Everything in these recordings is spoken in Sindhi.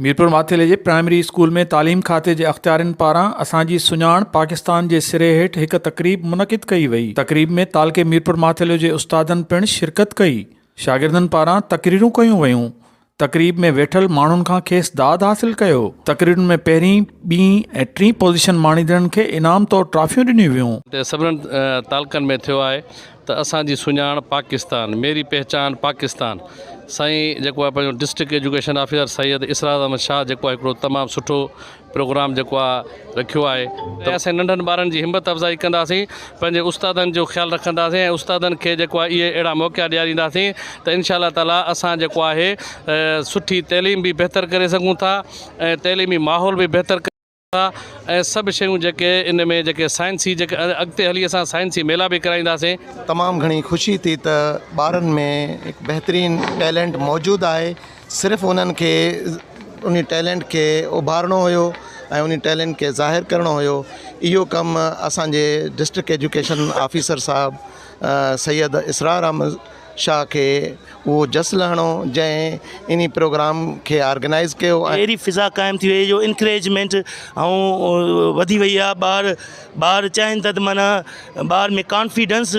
ميرپور ماٿيلي جي پرائمري اسڪول ۾ تعليم کاتي جي اختيارين پاران اسان جي سڃاڻ پاڪستان جي سري هيٺ هڪ تقريب منعقد ڪئي وئي تقريب ۾ تعلقي ميرپور ماٿيلو جي استادن پڻ شرڪت ڪئي شاگردن پاران تقريرون ڪيون ويون تقريب ۾ ويٺل ماڻهن کان کيس داد حاصل ڪيو تقريرن ۾ پهرين ٻين ۽ ٽين پوزيشن ماڻيندڙن کي انعام طور ٽرافيون ڏنيون ويون. سڀنن تعلقن ۾ ٿيو آهي ته اسان جي سڃاڻ پاڪستان ميري پهچان پاڪستان سائين جيڪو آهي پنهنجو district education officer Syed Israr Ahmed Shah جيڪو آهي هڪڙو تمام سٺو پروگرام جيڪو آهي رکيو آهي ته اسين ننڍن ٻارن جي همت افزائي ڪنداسين پنهنجي استادن جو خيال رکنداسين ۽ استادن کي جيڪو آهي اهي اهڙا موقعا ڏيارينداسين ته ان شاء الله تعالي اسان جيڪو آهي سٺي تعليم به بهتر ڪري سگهون ٿا ۽ تعليمي ماحول به بهتر ٿا ۽ سڀ شيون جيڪي ان ۾ جيڪي سائنسي جيڪي اڳتي هلي اسان سائنسي ميلا به ڪرائينداسين. تمام گهڻي خوشي ٿي ته ٻارن ۾ هڪ بهترين ٽيلنٽ موجود آهي صرف انهن کي انهي ٽيلنٽ کي اڀارڻو هيو ۽ انهي ٽيلنٽ کي ظاهر ڪرڻو هيو اهو ڪم اسانجي ڊسٽرڪٽ ايجوڪيشن آفيسر صاحب سيد اسرار احمد شاهه کي اهو جس لهڻو جنهن انهي پروگرام کي آرگنائيز ڪيو ۽. اهڙي فضا قائم ٿي وئي جو انڪريجمينٽ ائون وڌي وئي آ ٻار ٻار چاهين ٿا ته معنيٰ ٻار ۾ ڪانفيڊنس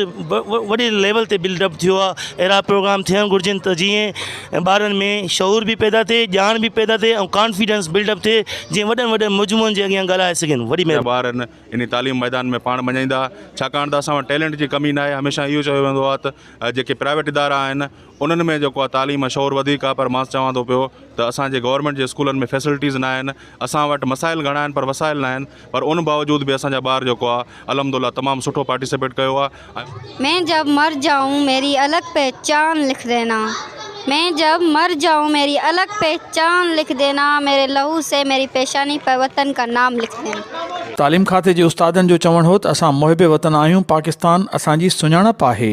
وڏي ليول تي بلڊ اپ ٿيو آ اهڙا پروگرام ٿيڻ گهرجن ته جيئن ٻارن ۾ شعور به پيدا ٿئي ڄاڻ به پيدا ٿئي ۽ ڪانفيڊنس بلڊ اپ ٿئي جيئن وڏن وڏن مجموعن جي اڳيان ڳالهائي سگهن وڏي مهرباني. انهي تعليم ميدان ۾ پاڻ مڃائيندا ڇاڪاڻ ته اسان وٽ ٽيلنٽ جي ڪمي ناهي هميشه اهو چيو ويندو آهي ته جيڪي پرائيويٽ ادارا آهن انهن ۾ جيڪو آهي تعليم ۽ شعور وڌيڪ آهي پر مان چوان ٿو پيو ته اسان جي گورنمينٽ جي اسڪولن ۾ فيسلٽيز ناهن اسان وٽ مسائل گهڻا آهن پر وسائل ناهن پر ان باوجود به اسان جا ٻار جيڪو آهي الحمد لله تمام سٺو پارٽيسپيٽ ڪيو آهي مين جب مر جائون ميري الگ پهچان لک دينا مين جب مر جائون ميري الگ پهچان لک دينا ميري لهو سي ميري پيشاني پر وطن ڪا نام لک دينا. تعليم کاتي جي استادن جو چوڻ هو ته اسان محب وطن آهيون پاڪستان اسان جي سڃاڻپ آهي